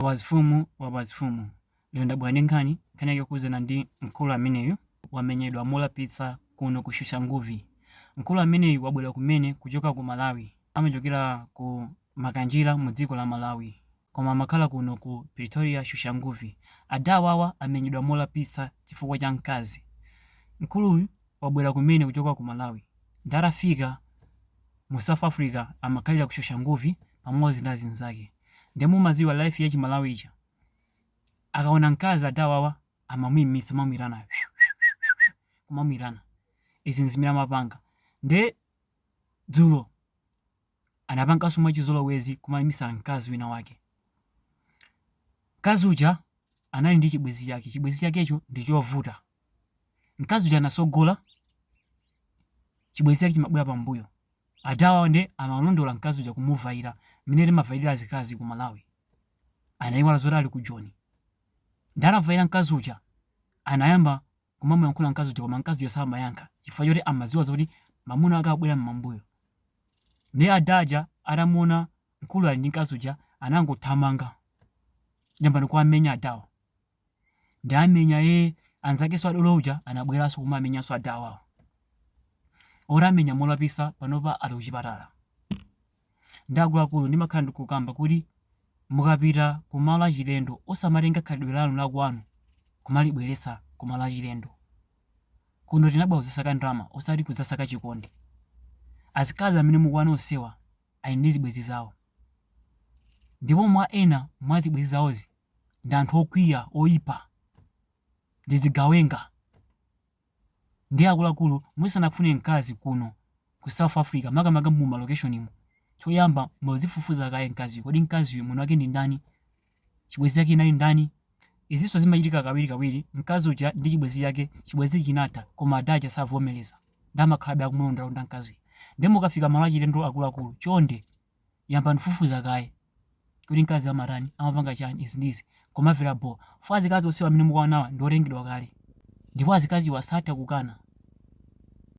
Awazifumu awazifumu lero ndabwera ndi nkhani, nkhani yake yokhudzana ndi mkulu ameneyu wamenyedwa molapitsa kuno ku Soshanguve. Mkulu ameneyu wabwera kumene kuchoka ku Malawi, amachokera ku Makanjira mu dziko la Malawi koma amakhala kuno ku Pretoria Soshanguve. Adawawa amenyedwa molapitsa chifukwa cha mkazi. Mkuluyu wabwera kumene kuchoka ku Malawi nde atafika mu south africa amakhalira ku soshanguve pamodzi ndi azinzake nde mumadziwa life ya chimalawi ija akaona mkazi adawawa amamuimitsa mamwirana kumamwirana izi nzimene amapanga nde dzulo anapanganso mwachizolowezi kumaimitsa mkazi wina wake mkazi uja anali ndi chibwenzi chake chibwenzi chakecho ndi chovuta mkazi uja anatsogola chibwenzi chake chimabwera pambuyo adawa nde amalondola mkazi uja kumuvaira mmene timavayira azikazi ku malawi anayiwala zoti ali ku joni nde anavaira mkazi uja anayamba kumamuyankhula mkazi uja koma mkazi uja samayankha chifukwa choti amadziwa zoti mamuna ake abwera mmambuyo nde adaja atamuona mkulu ali ndi mkazi uja anangothamanga yambani kuwamenya adawa ndiye amenya ee anzakenso adolo uja anabweranso kumamenyanso adawawa awamenya molapitsa panopa ali kuchipatala ndi akuluakulu ndimakhala ndikukamba kuti mukapita ku malo achilendo osamatenga khalidwe lanu lakwanu kumalibweretsa ku malo achilendo kuno tinabwera kudzasaka ndalama osati kudzasaka chikondi azikazi amene mukuwaona onsewa ali ndi zibwenzi zawo ndipo ena mwa zibwenzi zawozi ndi anthu okwiya, oipa, ndi zigawenga, nde akuluakulu musanafune mkazi kuno ku south africa makamaka mu malokeshonimu choyamba muzifufuza kaye mkaziyo kodi mkaziyo mwini wake ndi ndani chibwenzi chake chinali ndani izinso zimachitika kawiri kawiri mkazi uja ndi chibwenzi chake chibwenzi chinatha koma ada aja savomereza nde amakhalabe akumulondalonda mkazi nde mukafika malo achilendo akuluakulu chonde yambani kufufuza kaye kuti mkazi amatani amapanga chani izi ndizi komavera bho fo azikazi onsewa amene mukuwaonawa ndiotengedwa kale ndipo azikaziwa satha kukana